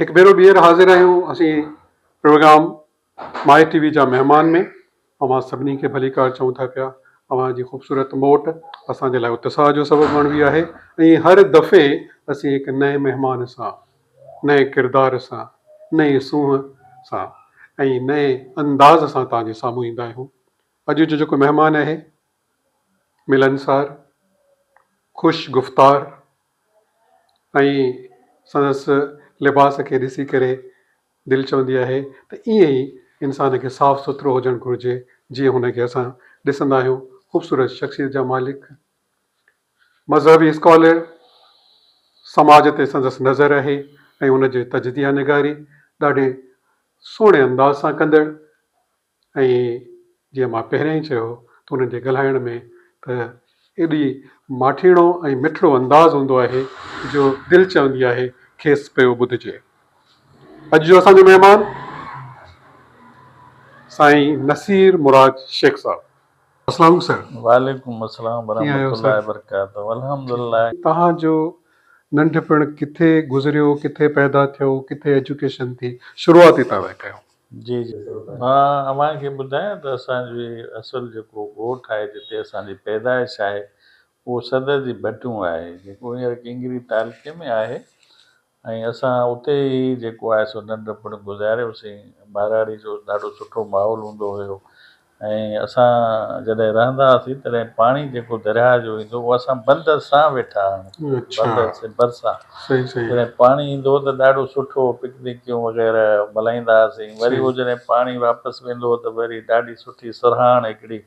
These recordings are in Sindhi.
هڪ ڀيرو ٻيهر حاضر آهيون اسين پروگرام مائي ٽي وي جا مهمان ۾ اوهان سڀني کي ڀليڪار چئون ٿا پيا اوهان جي خوبصورت موٽ اسان جي لاء اتساهه جو سبب بڻبي آهي ۽ هر دفعي اسين هڪ نئين مهمان سان نئين ڪردار سان نئين سونهن سان ۽ نئين انداز سان توهان جي سامهون ايندا آهيون اڄ جو جيڪو مهمان آهي ملنسار، خوش گفتار ۽ سندس لباس کي ڏسي ڪري دل چوندي آهي ته ائين ئي انسان کي صاف سٿرو هجڻ گهرجي جيئن هن کي اسان ڏسندا آهيون خوبصورت شخصيت جا مالڪ مذهبي اسڪالر سماج تي سندس نظر آهي ۽ ان جي تجديه نگاري ڏاڍي سهڻي انداز سان ڪندڙ ۽ جيئن مان پهريان ئي چيو ته انهن جي ڳالهائڻ ۾ ته ايڏي ماٺيڻو ۽ مٺڙو انداز هوندو آهي جو دل چوندي آهي کيس پيو ٻڌجي. اڄ جو اسان جو مهمان سائين نصير مراد شيخ صاحب. السلام عليڪم سر. وعليڪم السلام ورحمة الله وبرڪاته الحمد لله. توهان جو ننڍپڻ ڪٿي گذريو ڪٿي پيدا ٿيو ڪٿي ايجوڪيشن ٿي شروعات اتان لاء ڪيون. جي جي مان اوهان کي ٻڌايان ته اسان جو هي اصل جيڪو ڳوٺ آهي جتي اسان جي پيدائش آهي اهو صدر جي ڀٽيون آهي جيڪو هينئر ڪينگري تعلقي ۾ آهي ۽ اسان اتي ئي جيڪو آهي سو ننڍپڻ گذاريوسين ٻهراڙي جو ڏاڍو سٺو ماحول هوندو هيو ۽ اسان جڏهن رهندا هئاسين تڏهن پاڻي جيڪو درياء جو ايندو هو اسان بند سان ويٺا آهيون بند ڀرسان جڏهن پاڻي ايندو هو ته ڏاڍو سٺو پڪنڪيون وغيره ملهائيندا هئاسين وري هو جڏهن پاڻي واپس ويندو هو ته وري ڏاڍي سٺي سرهاڻ هڪڙي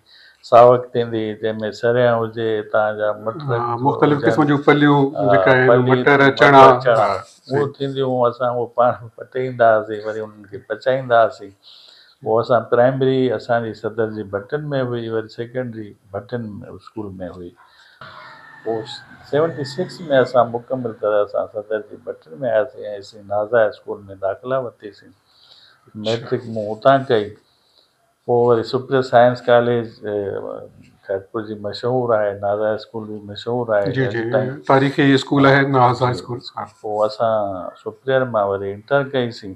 ساوڪ ٿيندي هئي جنهن ۾ سريان هجي هتان جا مٽر مختلف قسم جون ڦليون جيڪا آهن مٽر چڻا اهي ٿينديون هيون اسان اهو پاڻي پٽي ايندا هئاسين وري انهن کي پچائيندا هئاسين پوء اسان پرائمري اسان جي صدر جي ڀٽن ۾ هئي وري سيڪنڊري ڀٽن اسڪول ۾ هئي. پوء سيونٽي سڪس ۾ اسان مڪمل طرح سان صدر جي ڀٽن ۾ آياسين ۽ اسين نازا اسڪول ۾ داخلا ورتيسين. مئٽرڪ مون اتان ڪئي. پوء وري سپريئر سائنس ڪاليج خيرپور جي مشهور آهي، نازا اسڪول به مشهور آهي. جي جي تاريخي اسڪول آهي نازا اسڪول. پوء اسان سپريئر مان وري انٽر ڪئيسين.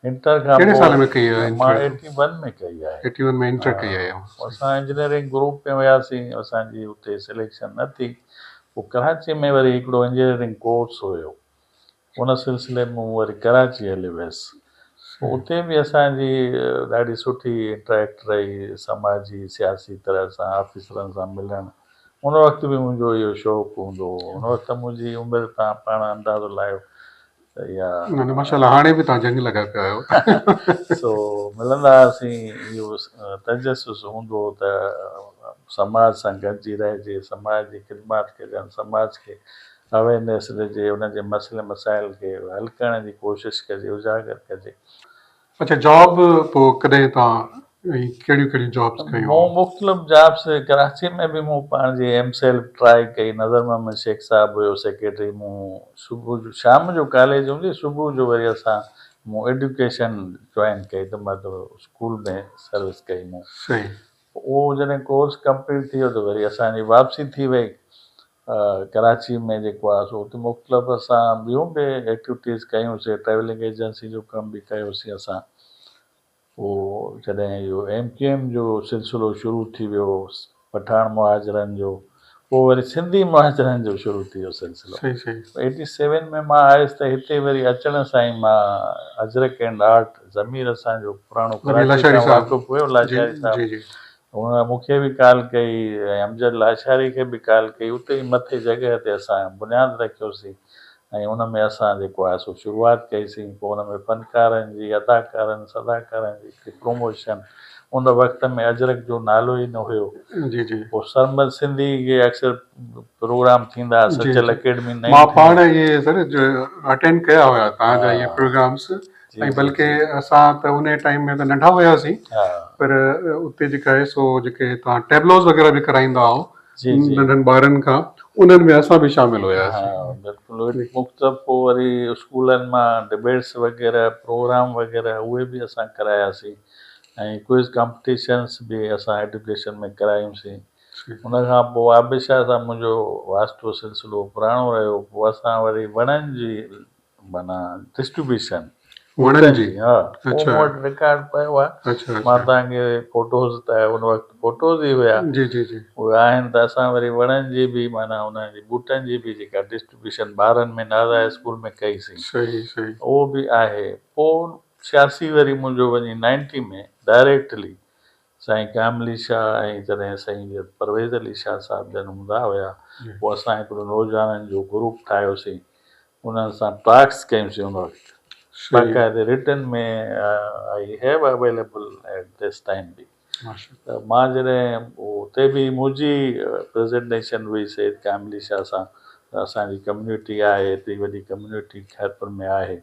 انٽر کان پوء مان ايٽي ون ۾ ڪئي آهي ايٽي ون ۾ انٽر ڪئي آهي اسان انجنيئرنگ گروپ ۾ وياسين اسان جي اتي سليڪشن نه ٿي پوء ڪراچي ۾ وري هڪڙو انجنيئرنگ ڪورس هيو ان سلسلي ۾ مون وري ڪراچي هليو ويس پوء اتي به اسان جي ڏاڍي سٺي انٽريڪٽ رهي سماجي سياسي طرح سان آفيسرن سان ملڻ ان وقت به منهنجو اهو شوق هوندو هو ان وقت منهنجي عمر تان پاڻ اندازو لايو نه ماشاء الله هاڻي به توهان جنگ لڳا پيا آهيو سو ملندا هئاسين اهو تجسس هوندو هو ته سماج سان گڏجي رهجي سماج جي خدمات ڪجن سماج کي اويرنيس ڏجي ان جي مسئلي مسائل کي حل ڪرڻ جي ڪوشش ڪجي اجاگر ڪجي اچا جاب پوء ڪڏهن تان ۽ ڪهڙيون ڪهڙيون جابس ڪيون؟ مون مختلف جابس ڪراچي ۾ به مون پنهنجي ايم سيل ٽرائي ڪئي نظر محمد شيخ صاحب هيو سيڪريٽري مون صبح جو شام جو ڪاليج هوندي صبح جو وري اسان مون ايڊيوڪيشن جوائن ڪئي ته مطلب اسڪول ۾ سروس ڪئي مون صحيح. پوء اهو جڏهن ڪورس ڪمپليٽ ٿي ويو ته وري اسان جي واپسي ٿي وئي ڪراچي ۾ جيڪو آهي سو اتي مختلف اسان ٻيون به ايڪٽيوٽيز ڪيون سي ٽريولنگ ايجنسي جو ڪم به ڪيو سي اسان پوء جڏهن اهو ايم ڪيو ايم جو سلسلو شروع ٿي ويو پٺاڻ مهاجرن جو پوء وري سنڌي مهاجرن جو شروع ٿي ويو سلسلو صحيح صحيح ايٽي سيون ۾ مان آيس ته هتي وري اچڻ سان ئي مان اجرڪ اينڊ آرٽ ضمير اسان جو پراڻو ضمير لاچاري صاحب جي جي جي هن مون کي به ڪال ڪئي ۽ امجد لاشاري کي به ڪال ڪئي اتي ئي مٿي جڳهه تي اسان بنياد رکيو سين ۽ ان ۾ اسان جيڪو آهي سو شروعات ڪئي سين پوء ان ۾ فنڪارن جي اداڪارن صداڪارن جي هڪڙي پروموشن ان وقت ۾ اجرڪ جو نالو ئي نه هيو پوء سرمد سنڌي جي اڪثر پروگرام ٿيندا ها سچل اڪيڊمي نئين ٺهي. ۽ بلڪه اسان ته انهي ٽائيم ۾ ته ننڍا هياسين پر اتي جيڪا آهي سو جيڪي توهان ٽيبلوز وغيره به ڪرائيندا هئو ننڍن ٻارن کان انهن ۾ اسان به شامل هياسين بلڪل اهي مختلف پوء وري اسڪولن مان ڊبيٽس وغيره پروگرام وغيره اهي به اسان ڪراياسين ۽ ڪوئز ڪامپٽيشنس به اسان ايڊوڪيشن ۾ ڪرايون سين ان کان پوء عابد شاهه سان منهنجو واسطو سلسلو پراڻو رهيو پوء اسان وري وڻن جي معنيٰ ڊسٽريبيوشن وڻن جي ها اهو مون وٽ رڪارڊ پيو آهي مان تهان کي فوٽوز ته ان وقت فوٽوز ئي هيا اهي آهن ته اسان وري وڻن جي به معنيٰ انهن جي ٻوٽن جي به جيڪا ڊسٽريبيوشن ٻارن ۾ نازا اسڪول ۾ ڪئي سين اهو به آهي پوء سياسي وري منهنجو وڃي نائنٽي ۾ ڊائريڪٽلي سائين قيام علي شاهه ۽ جڏهن سائين پرويز علي شاهه صاحب جن هوندا هيا پوء اسان هڪڙو نوجوانن جو گروپ ٺاهيوسين انهن سان ٽاڪس ڪيوسين ان وقت باقاعدي رٽن ۾ آئي هيو اويليبل ايٽ ديس ٽائيم بي ته مان جڏهن اتي به منهنجي پريزنٽيشن هئي سيد قيام علي شاهه سان ته اسان جي ڪميونٽي آهي ايتري وڏي ڪميونٽي خيرپور ۾ آهي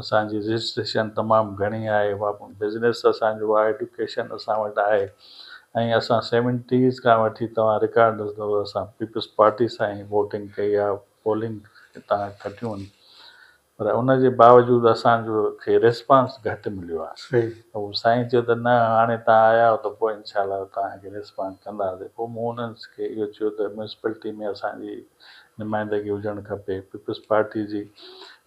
اسان جي رجسٽريشن تمام گهڻي آهي بزنس اسان جو آهي ايڊوڪيشن اسان وٽ آهي ۽ اسان سيونٽيز کان وٺي توهان رڪارڊ ڏسندو ته اسان پيپلز پارٽي سان ئي ووٽنگ ڪئي آهي پولنگ هتان کٽيون آهن پر ان جي باوجود اسان جو کي ريسپانس گهٽ مليو آهي ته هو سائين چيو ته نه هاڻي توهان آيا آهيو ته پوء انشاء الله توهان کي ريسپانس ڪنداسين پوء مون انهن کي اهو چيو ته ميونسپلٽي ۾ اسان جي نمائندگي هجڻ کپي پيپلز پارٽي جي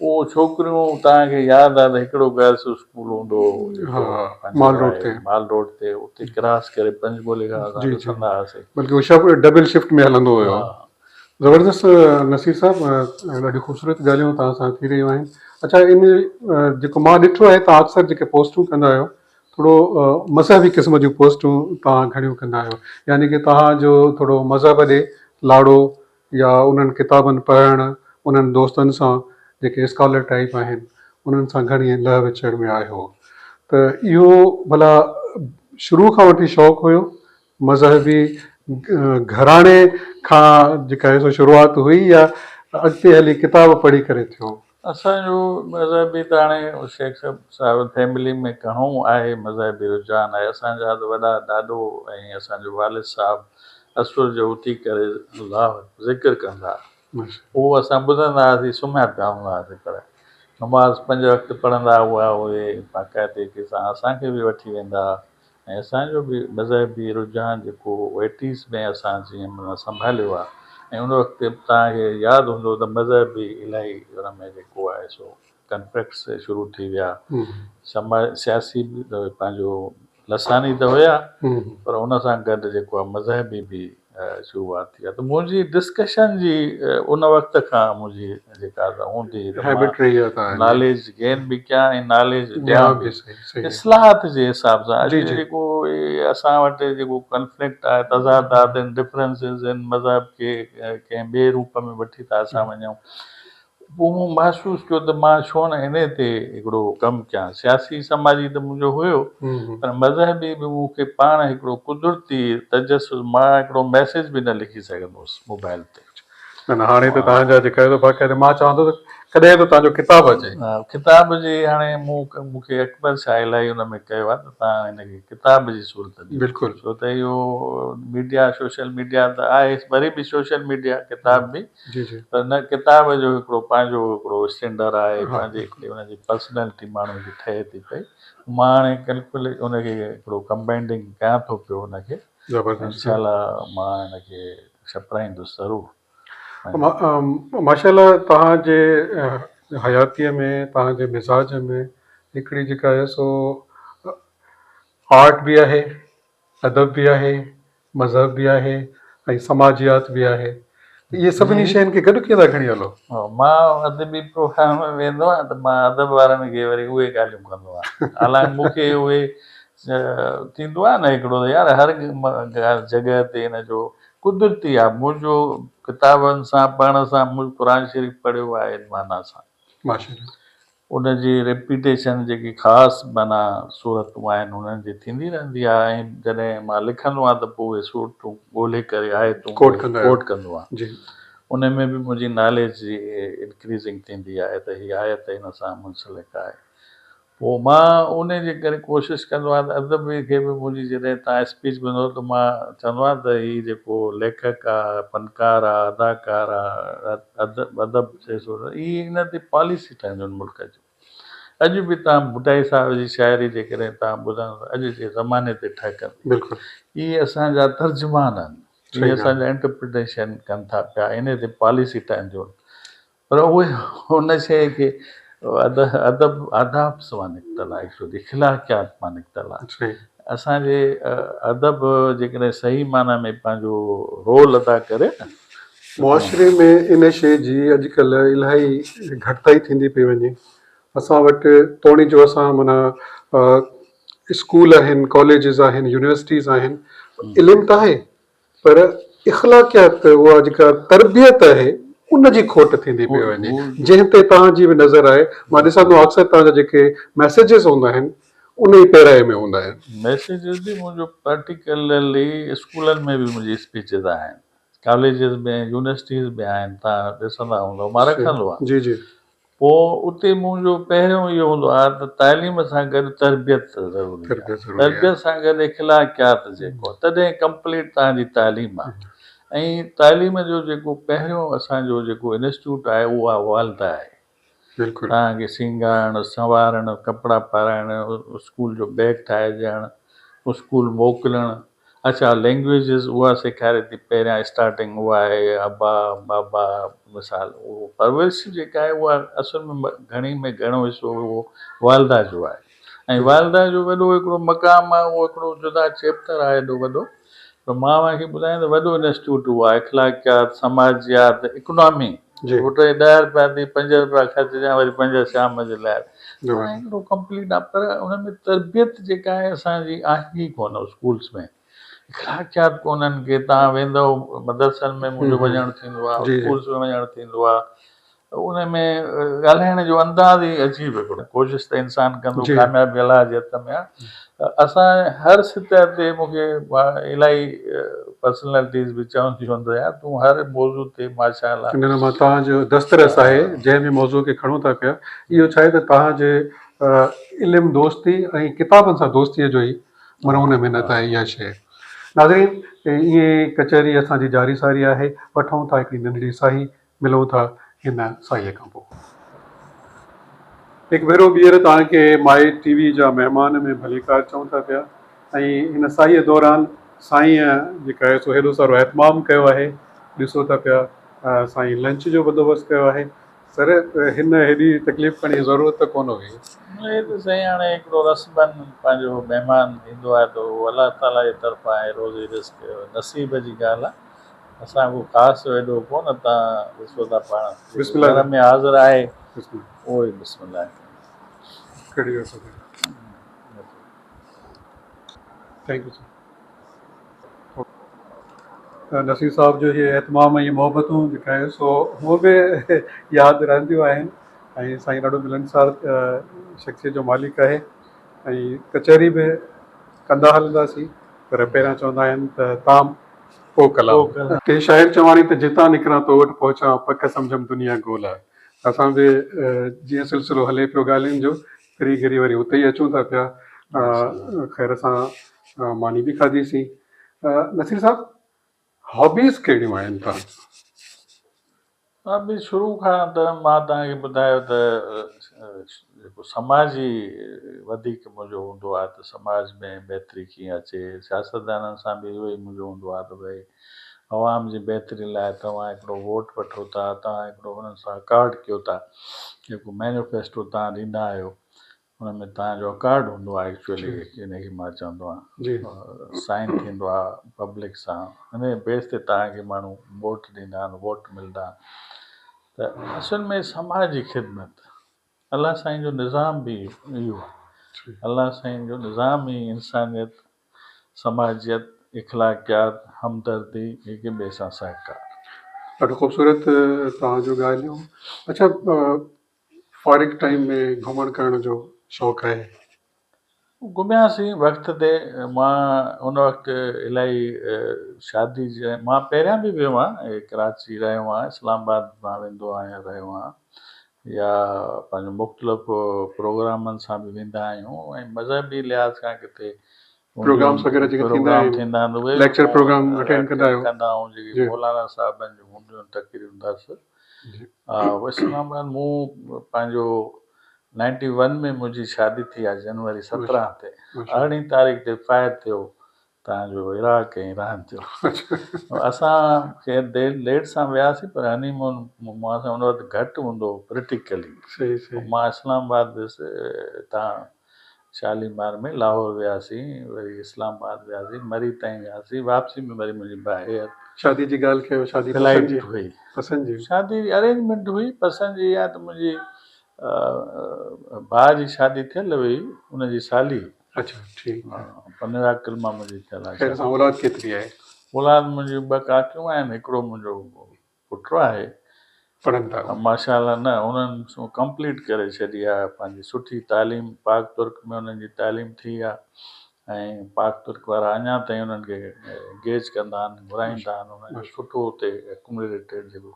اهو ڇوڪريون توهان کي ياد آهي ته هڪڙو گرلس اسڪول هوندو هو مال روڊ تي مال روڊ تي اتي ڪراس ڪري پنج گولي کان اسان ڏسندا هئاسين بلڪه هو شب ڊبل شفٽ ۾ هلندو هيو ها زبردست نصير صاحب ڏاڍي خوبصورت ڳالهيون توهان سان ٿي رهيون آهن اڇا ان جيڪو مان ڏٺو آهي توهان اڪثر جيڪي پوسٽون ڪندا آهيو ٿورو مذهبي قسم جون پوسٽون توهان گهڻيون ڪندا آهيو يعني ڪي توهان جو ٿورو مذهب ڏي لاڙو يا انهن ڪتابن پڙهڻ، انهن دوستن سان جيڪي اسڪالر ٽائيپ آهن، انهن سان گهڻي لهه وچڙ ۾ آهيو ته اهو ڀلا شروع کان وٺي شوق هيو، مذهبي گهراڻي کان جيڪا شروعات هئي يا اڳتي هلي ڪتاب پڙهي ڪري ٿيو؟ اسان جو مذهبي ته هاڻي شيخ صاحب صاحب فيملي ۾ گهڻو آهي مذهبي رجحان آهي اسان جا ته وڏا ڏاڏو ۽ اسان جو والد صاحب اسور جو اٿي ڪري الله ذڪر ڪندا هئا اهو اسان ٻڌندا هئاسين سمهيا پيا هوندا هئاسين پر نماز پنج وقت پڙهندا هئا اهي باقاعدي طريقي سان اسان کي به وٺي ويندا هئا ۽ اسان جو به مذهبي رجحان جيڪو ويٽيس ۾ اسان جيئن معنيٰ سنڀاليو آهي ۽ ان وقت تي به توهان کي ياد هوندو ته مذهب به الائي ان ۾ جيڪو آهي سو ڪنفلڪٽس شروع ٿي ويا سما سياسي به پنهنجو لساني ته هيا پر ان سان گڏ جيڪو آهي مذهبي به شروعات ٿي آهي ته منهنجي ڊسڪشن جي ان وقت کان منهنجي جيڪا هوندي هئي هيبٽ رهي آهي تانجي ناليج گين به ڪيان ۽ ناليج ڏيان به اصلاحات جي حساب سان اڄ جيڪو اسان وٽ جيڪو ڪنفلڪٽ آهي تضادات آهن ڊفرنسز آهن مذهب کي ڪنهن ٻئي روپ ۾ وٺي ٿا اسان وڃون پوء مون محسوس ڪيو ته مان ڇو نه انهي تي هڪڙو ڪم ڪيان. سياسي سماجي ته منهنجو هيو پر مذهبي به مون کي پاڻ هڪڙو قدرتي تجسس مان هڪڙو ميسيج به نه لکي سگهندو هوس موبائل تي. نه نه هاڻي ته توهان جا ذڪر دفعا ڪيا ته مان چوان ٿو ته ڪڏهن ته توهان جو ڪتاب اچي. ها ڪتاب جي هاڻي مون مون کي اڪبر شاهه الاهي ان ۾ ڪيو آهي ته توهان هن کي ڪتاب جي صورت ڏيو. بلڪل. ڇو ته اهو ميڊيا سوشل ميڊيا ته آهي وري به سوشل ميڊيا ڪتاب به ان ڪتاب جو هڪڙو پنهنجو هڪڙو اسٽينڊر آهي پنهنجي هڪڙي ان جي پرسنالٽي ماڻهو جي ٺهي ٿي پئي مان هاڻي ڪلڪل ان کي هڪڙو ڪمبينڊنگ ڪيان ٿو پيو ان کي انشاءالله مان ان کي ڇپرائيندس ضرور ماشاءالله توهان جي حياتيء ۾ توهان جي مزاج ۾ هڪڙي جيڪا آهي سو آرٽ به آهي ادب به آهي مذهب به آهي ۽ سماجيات به آهي اهي سڀني شين کي گڏ ڪيئن ٿا کڻي هلو. مان ادبي پروگرام ۾ ويندو آهيان ته مان ادب وارن کي وري اهي ڳالهيون ڪندو آهيان حالانڪ مون کي اهي ٿيندو آهي نه هڪڙو ته يار هر جڳهه تي ان جو قدرتي آهي منهنجو ڪتابن سان پڙهڻ سان مون قرآن شريف پڙهيو آهي اطمينان سان. ماشاءالله. ان جي ريپيٽيشن جيڪي خاص معنيٰ صورتون آهن انهن جي ٿيندي رهندي آهي ۽ جڏهن مان لکندو آهيان ته پوء اهي صورتون ڳولهي ڪري آيتون ڪوٽ ڪندو آهيان انهي ۾ به منهنجي ناليج جي انڪريزنگ ٿيندي آهي ته هي آيت ان سان منسلڪ آهي پوء مان انهي جي ڪري ڪوشش ڪندو آهيان ته ادب کي به منهنجي جڏهن تان اسپيچ ٻڌندؤ ته مان چوندو آهيان ته هي جيڪو ليکڪ آهي فنڪار آهي اداڪار آهي ادب سيد سهراب، اي ان تي پاليسي ٺاهيندو هن ملڪ جي. اڄ به توهان ڀٽائي صاحب جي شاعري جيڪڏهن توهان ٻڌندا ته اڄ جي زماني تي ٺهڪندي. بلڪل. اي اسان جا ترجمان آهن. اي اسان جا انٽرپريٽيشن ڪن ٿا پيا انهي تي پاليسي ٺاهيندو هن. پر اهي ان شيء کي ادب آداب سوا نڪتل آهي هڪ سوڌي خلاقيات مان نڪتل آهي. اسان جي ادب جيڪڏهن صحيح معنيٰ ۾ پنهنجو رول ادا ڪري نه معاشري ۾ ان شيء جي اڄڪلهه الاهي گهٽتائي ٿيندي پئي وڃي. اسان وٽ توڻي جو اسان معنيٰ اسڪول آهن، ڪاليجز آهن، يونيورسٽيز آهن، علم ته آهي پر اخلاقيات اها جيڪا تربيت آهي ان جي کوٽ ٿيندي پئي وڃي. جنهن تي توهان جي به نظر آهي. مان ڏسان ٿو اڪثر توهان جا جيڪي ميسيجز هوندا آهن ان ئي پيراهي ۾ هوندا آهن. ميسيجز به منهنجو پرٽيڪلرلي اسڪولن ۾ به منهنجي اسپيچز آهن. ڪاليجز به ۽ يونيورسٽيز به آهن تان ڏسندا هوندؤ مان رکندو آهيان جي جي پو اتي منهنجو پهريون اهو هوندو آهي ته تعليم سان گڏ تربيت ضروري آهي تربيت ضروري آهي تربيت سان گڏ اخلاقيات جيڪو تڏهن ڪمپليٽ توهان جي تعليم آهي ۽ تعليم جو جيڪو پهريون اسان جو جيڪو انسٽيٽيوٽ آهي اهو آهي والده آهي تان کي سينگارڻ، سنوارڻ، ڪپڙا پارائڻ، اسڪول جو بيگ ٺاهي ڏيڻ، اسڪول موڪلڻ، اڇا لينگويجز اها سيکاري ٿي پهريان اسٽارٽنگ اها آهي ابا، بابا، مثال اهو پرورش جيڪا آهي اها اصل ۾ گهڻي ۾ گهڻو حصو اهو والده جو آهي ۽ والده جو وڏو هڪڙو مقام آهي اهو هڪڙو جدا چيپٽر آهي ايڏو وڏو ته مان اوهان کي ٻڌايان ته وڏو انسٽيٽيوٽ اهو آهي اخلاقيات، سماجيات، اڪنامي. گهٽ جي ڏهه رپيا ٿي پنج رپيا خرچ جا وري پنج شام جي لاء ۽ هڪڙو ڪمپليٽ آ پر ان ۾ تربيت جيڪا آهي اسان جي آهي ئي ڪونه اسڪولس ۾ اخلاقيات ڪونهن ڪي تان ويندو مدرسن ۾ منهنجو وڃڻ ٿيندو آ اسڪولس ۾ وڃڻ ٿيندو آ ان ۾ ڳالهائڻ جو انداز ئي عجيب هڪڙو ڪوشش ته انسان ڪندو ڪاميابي الله جي هٿ ۾ آ اسان هر سطح تي مون کي الائي پرسنالٽيز به چونديون هونديون هيا تون هر موضوع تي ماشاء الله. سنگنه مان توهان جو دسترس آهي جنهن به موضوع کي کڻو ٿا پيا اهو ڇا آهي ته توهان جي علم دوستي ۽ ڪتابن سان دوستي جو ئي مرهون منت آهي اها شيء ناظرين ائين ڪچهري اسان جي جاري ساري آهي وٺون ٿا هڪڙي ننڍڙي ساهي ملون ٿا هن سائيء کان پوء. هڪ ڀيرو ٻيهر توهان کي مائي ٽي وي جا مهمان ۾ ڀليڪار چئون ٿا پيا ۽ هن سائيء دوران سائينء جيڪا آهي سو هيڏو سارو اهتمام ڪيو آهي ڏسو ٿا پيا سائين لنچ جو بندوبست ڪيو آهي سر هن هيڏي تڪليف ڪرڻ جي ضرورت ته ڪونه هئي. هي ته سائين هاڻي هڪڙو رسمن پنهنجو مهمان ايندو آهي ته اهو الله تعاليٰ جي طرفان آهي روزي رزق نصيب جي ڳالهه آهي. اسان ڪو خاص ايڏو ڪو نه تان ڏسو ٿا پاڻ بسم الله گهر ۾ حاضر آهي بسم الله اهو ئي بسم الله ڪهڙي ويو سڀ thank you sir Nasir Sahib جو هي اهتمام ۽ محبتون جيڪا آهن سو هو به ياد رهنديون آهن ۽ سائين ڏاڍو ملنسار شخصيت جو مالڪ آهي ۽ ڪچهري به ڪندا هلنداسين پر پهريان چوندا آهن ته تام او ڪلا! ڪي شاعر چواڻي ته جتان نڪران تو وٽ پهچان پڪ سمجهم دنيا گول آ. اسان به جيئن سلسلو هلي پيو ڳالهين جو ڦري گهري وري اتي ئي اچون ٿا پيا. خير سان ماني به کاڌي سين. نصير صاحب هابيز ڪهڙيون آهن توهان جون؟ مان به شروع کان ته مان توهان کي ٻڌايو ته جيڪو سماجي وڌيڪ منهنجو هوندو آهي ته سماج ۾ بهتري ڪيئن اچي سياستدانن سان به اهو ئي منهنجو هوندو آهي ته ڀائي عوام جي بهتري لاء توهان هڪڙو ووٽ وٺو ٿا توهان هڪڙو انهن سان اڪارڊ ڪيو ٿا جيڪو مينيفيسٽو توهان ڏيندا آهيو ان ۾ توهان جو اڪارڊ هوندو آهي ايڪچوئلي جنهن کي مان چوندو آهيان سائين ٿيندو آهي پبلڪ سان ان جي بيس تي توهان کي ماڻهو ووٽ ڏيندا آهن ووٽ ملندا آهن ته اصل ۾ سماج جي خدمت الله سائين جو نظام به اهو آهي الله سائين جو نظام ئي انسانيت سماجيت اخلاقيات همدردي هڪ ٻئي سان سهڪار ڏاڍو خوبصورت توهان جون ڳالهيون اڇا فارغ ٽائيم ۾ گهمڻ ڪرڻ جو شوق آهي. گهمياسين وقت تي مان ان وقت الائي شادي جي مان پهريان به ويو آهيان ڪراچي رهيو آهيان اسلام آباد مان ويندو آهيان رهيو آهيان يا پنهنجو مختلف پروگرامن سان به ويندا آهيون ۽ مذهبي لحاظ کان ڪٿي پروگرامس وغيره جيڪي ٿيندا آهن ليڪچر پروگرام اٽينڊ ڪندا آهيو ڪندا آهيون جيڪي مولانا صاحبن جون هونديون آهن تقريرون درس ها اسلام آباد مون پنهنجو نائنٽي ون ۾ منهنجي شادي ٿي آهي جنوري سترهن تي ارڙهين تاريخ تي فائر ٿيو تان جو عراق ۽ ايران جو اسان کي دير ليٽ سان وياسي پر هني مون مون سان ان وقت گهٽ هوندو پريٽيڪلي مان اسلام آباد ويس تان شاليمار ۾ لاهور وياسين وري اسلام آباد وياسين مري تائين وياسين واپسي ۾ وري منهنجي ڀائي شادي جي ڳالهه ڪيو شادي پسند جي هئي پسند جي شادي ارينجمينٽ هئي پسند جي اها ته منهنجي ڀاء جي شادي ٿيل هئي ان جي سالي اچا ٺيڪ پنهنجا ڪل مان منهنجي ٿيل آهي خير سان اولاد ڪيتري آهي اولاد منهنجي ٻه ڪاڪيون آهن هڪڙو منهنجو پٽ آهي پڙهن ٿا اهي. ماشاء الله نه انهن سو ڪمپليٽ ڪري ڇڏي آ پنهنجي سٺي تعليم پاڪ ترڪ ۾ انهن جي تعليم ٿي آ ۽ پاڪ ترڪ وارا اڃان تائين انهن کي انگيج ڪندا آهن گهرائيندا آهن انهن جو سٺو اتي اڪمليٽيڊ جيڪو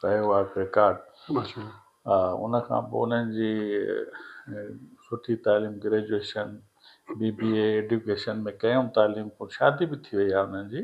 رهيو آ رڪارڊ ماشاء الله ها ان کان پوء انهن جي سٺي تعليم graduation B B A education ۾ ڪيم تعليم پوء شادي به ٿي وئي آ انهن جي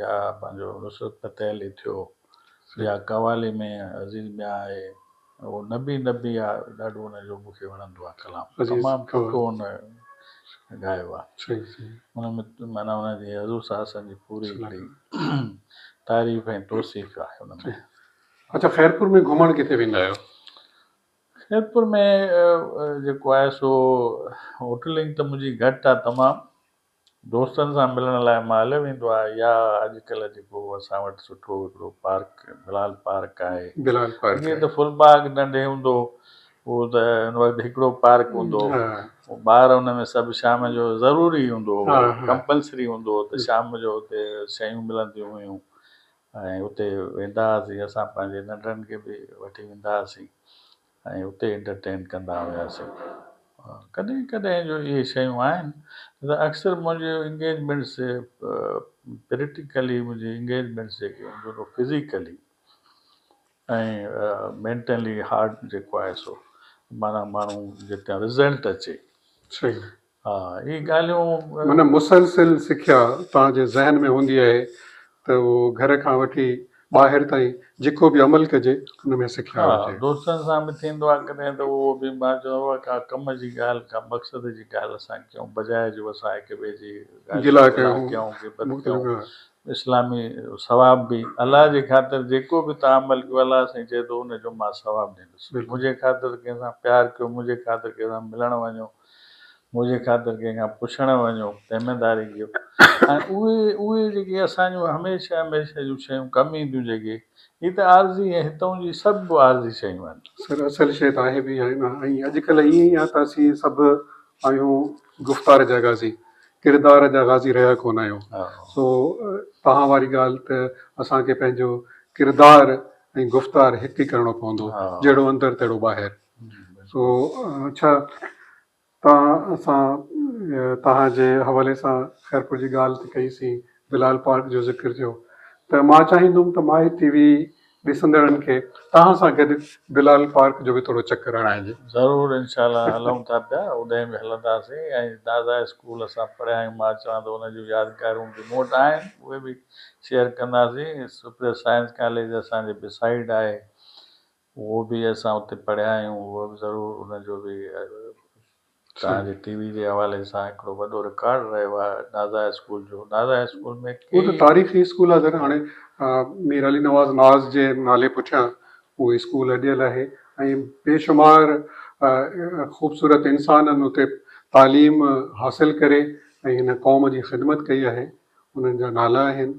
يا پنهنجو نصرت فتحعلي ٿيو يا قوالي ۾ عزيز ميان آهي اهو نبي نبي آ ڏاڍو ان جو مون کي وڻندو آ ڪلام تمام سٺو ان ڳايو آ ان ۾ معنيٰ ان جي حضور صلي الله عليه وسلم جي پوري هڪڙي تعريف ۽ توصيف آهي ان ۾ اڇا خيرپور ۾ گهمڻ ڪٿي ويندا آهيو؟ خيرپور ۾ جيڪو آهي سو هوٽلنگ ته منهنجي گهٽ آ تمام دوستن سان ملڻ لاء ماليء ويندو آهي يا اڄ ڪلهه جيڪو اسان وٽ سٺو هڪڙو پارڪ بلال پارڪ آهي. بلال پارڪ اڳي آهي. ته ڦل باغ ننڍي هوندو هو ته ان وقت هڪڙو پارڪ هوندو هو. ها. پوء ٻار ان ۾ سڀ شام جو ضروري هوندو هو، ها ها. ڪمپلسري هوندو هو ته شام جو اتي شيون ملنديون هيون ۽ اتي ويندا هئاسين اسان پنهنجي ننڍڙن کي به وٺي ويندا هئاسين. ۽ اتي انٽرٽين ڪندا هياسين ڪڏهن ڪڏهن جو اهي شيون آهن ته اڪثر منهنجي انگيجمينٽس جي پريٽيڪلي منهنجي انگيجمينٽس جيڪي هونديون آهن فزيڪلي ۽ مينٽلي هارڊ جيڪو آهي سو معنيٰ ماڻهو جتان رزلٽ اچي ها اهي ڳالهيون. معنيٰ مسلسل سکيا توهان جي ذهن ۾ هوندي آهي ته اهو گهر کان وٺي ٻاهر تائين جيڪو به عمل ڪجي ان ۾ سکيا هجي. ها دوستن سان به ٿيندو آهي ڪڏهن ته اهو به مان چوندو آهيان ڪا ڪم جي ڳالهه ڪا مقصد جي ڳالهه اسان ڪيون بجاء جو اسان هڪ ٻئي جي گلا ڪيون غيبت ڪيون اسلامي ثواب به الله جي خاطر جيڪو به توهان عمل ڪيو الله سائين چئي ٿو ان جو مان ثواب ڏيندس منهنجي خاطر ڪنهن سان پيار ڪيو منهنجي خاطر ڪنهن سان ملڻ وڃو منهنجي خاطر ڪنهن کان پڇڻ وڃو تهميداري ڪيو ۽ اهي اهي جيڪي اسان جون هميشه هميشه جون شيون ڪم اينديون جيڪي هي ته عارضي ۽ هتئون جي سڀ به عارضي شيون آهن. سر اصل شيء ته آهي به ائين نه ۽ اڄڪلهه ائين ئي آهي ته اسين سڀ آهيون گفتار جا غازي ڪردار جا غازي رهيا ڪونه آهيون سو تهان واري ڳالهه ته اسان کي پنهنجو ڪردار ۽ گفتار هڪ ئي ڪرڻو پوندو جهڙو اندر تهڙو ٻاهر. سو ڇا توهان اسان توهان جي حوالي سان خيرپور جي ڳالهه ته ڪئي سين بلال پارڪ جو ذڪر ٿيو ته مان چاهيندم ته مائي ٽي وي ڏسندڙن کي توهان سان گڏ بلال پارڪ جو به ٿورو چڪر هڻائجي. ضرور انشاء الله هلون ٿا پيا اوڏانهن به هلنداسين ۽ دادا اسڪول اسان پڙهيا آهيون مان چوان ته ان جون يادگارون به مون وٽ آهن اهي به شيئر ڪنداسين سپريو سائنس ڪاليج اسان جي بسائيڊ آهي اهو به اسان اتي پڙهيا آهيون اهو به ضرور ان جو به توهان جي ٽي وي جي حوالي سان هڪڙو وڏو رڪارڊ رهيو آهي ناز هاء اسڪول جو ناز هاء اسڪول ۾ ڪيئي اهو ته تاريخي اسڪول آهي سر هاڻي مير علي نواز ناز جي نالي پٺيان اهو اسڪول اڏيل آهي ۽ بي شمار خوبصورت انسانن اتي تعليم حاصل ڪري ۽ هن قوم جي خدمت ڪئي آهي انهن جا نالا آهن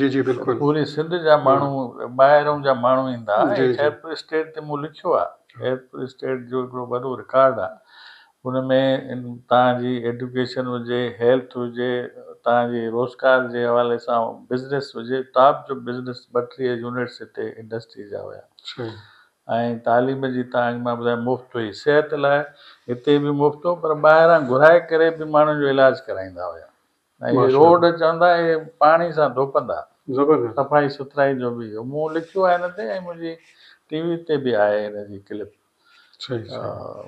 جي جي بلڪل. پوري سنڌ جا ماڻهو ٻاهرون جا ماڻهو ايندا ۽ خيرپور اسٽيٽ تي مون لکيو آ خيرپور اسٽيٽ جو هڪڙو وڏو رڪارڊ آ ان ۾ تان جي ايڊوڪيشن هجي هيلٿ هجي تان جي روزگار جي حوالي سان بزنس هجي ٽاپ جو بزنس ٻه ٽيهه يونٽس هتي انڊسٽري جا هيا صحيح ۽ تعليم جي تان جي مان ٻڌايو مفت هئي صحت لاء هتي به مفت هو پر ٻاهران گهرائي ڪري به ماڻهن جو علاج ڪرائيندا هيا. ۽ هي روڊ چوندا هي پاڻي سان ڌوپندا صفائي سٿرائي جو به اهو مون لکيو آهي هن تي ۽ منهنجي ٽي وي تي به آهي هن جي ڪلپ